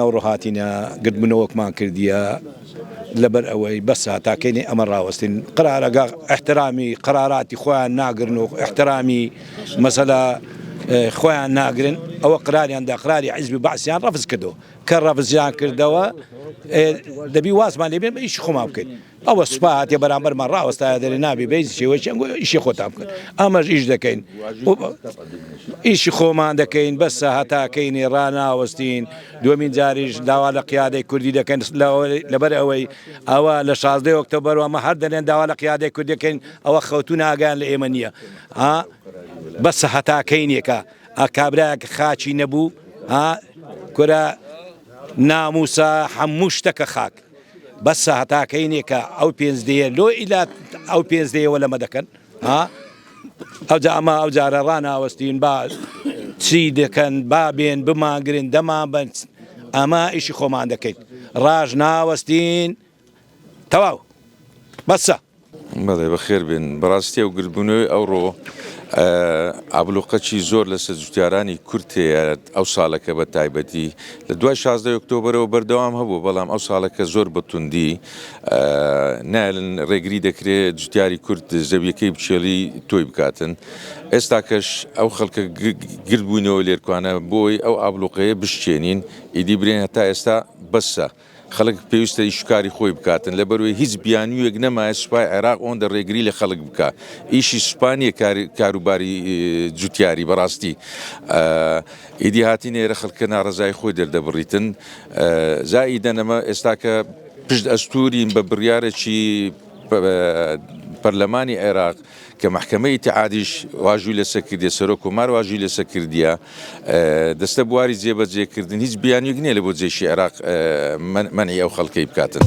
ناوڕۆ هاتینە گردبوونەوەکمان کردیە لەبەر ئەوەی بەسە تا کەینی ئەمە ڕاوەستین قرارەگە احترامی قراراتی خۆیان ناگرن و احترامی مەسەلە خۆیان ناگرن ئەوە قراریان دا قراری حیزبی بەعسیان ڕەفز کردو کە ڕەفزیان کردەوە دەبی وازمان لێبێن بە ئیش خۆمان بکەین ئەوە سوپا هاتیە بەرامبەرمان ڕاوەستایە دەرێ نابێ بە هیچ شێوەیەکی ئەنگۆ ئیشی خۆتان بکەن ئەمەش ئیش دەکەین ئیشی خۆمان دەکەین بەسە هەتاکەینی ڕناوەستین دومین جاریش داوا لە قیادەی کوردی دەکەن لەبەر ئەوەی ئەوە لە شازدە وەکتە بەروەمە هەر دەلێن داوا لە قیادەی کوردەکەین ئەوە خەوتو ناگەیان لە ئێمە نییە بەسە هەتاکەینێکە ئاکابراەک خاچی نەبوو کورە ناموسە هەموو شتەکە خاک بەسە هەتا کەینێ کە ئەو پێنج دەیە لۆ ئیلات ئەو پێنج دەیە وە لەمە دەکەن ها ئەوجا ئەمە ئەو جارە ڕناوەستین با چی دەکەن با بێن بمانگرن دەمان بن ئەمە ئیشی خۆمان دەکەین ڕاژ ناوەستین تەواو بەسە بەڵێ بەخێر بێن بەڕاستی ئەو گردبوونەوەی ئەوڕۆ ئابلوقەچی زۆر لەسەر جوتیارانی کورد هەیە ئەو ساڵەکە بە تایبەتی لە دوای 16 ئۆکتۆبرەوە بەردەوام هەبوو بەڵام ئەو ساڵەکە زۆر بەتوندی نایلن ڕێگری دەکرێت جوتیاری کورد زەویەکەی بچێڵی تۆی بکاتن ئێستاکەش ئەو خەڵکە گردبوونەوە لێرکوانە بۆی ئەو ئابلوقەیە بشچێنین ئیدی برێن هەتا ئێستا بەسە. خەڵک پێویستە ئیشو کاری خۆی بکاتن لەبەروەی هیچ بیانویەک نەمایە سوپای عێراق ئۆندە رێگری لە خەڵک بکا ئیشی سوپا نیە کار کاروباری جوتیاری بەراستی ئیدی هاتینە ئێرە خەڵکە نارەزای خۆی دەردەبریتن زائیدەن ئەمە ئێستاکە پشت ئەستورین بە بریارەکی پەرلەمانی عێراق کە مەحکەمەی ئیتحادیش واژوی لەسە کردیە سەرۆک کۆمار واژوی لەسە کردیە دەستە بواری جێبەجێکردن هیچ بیانویک نییە لە بۆ جێشی عێراق منعی ئەو خەڵکەی بکاتن.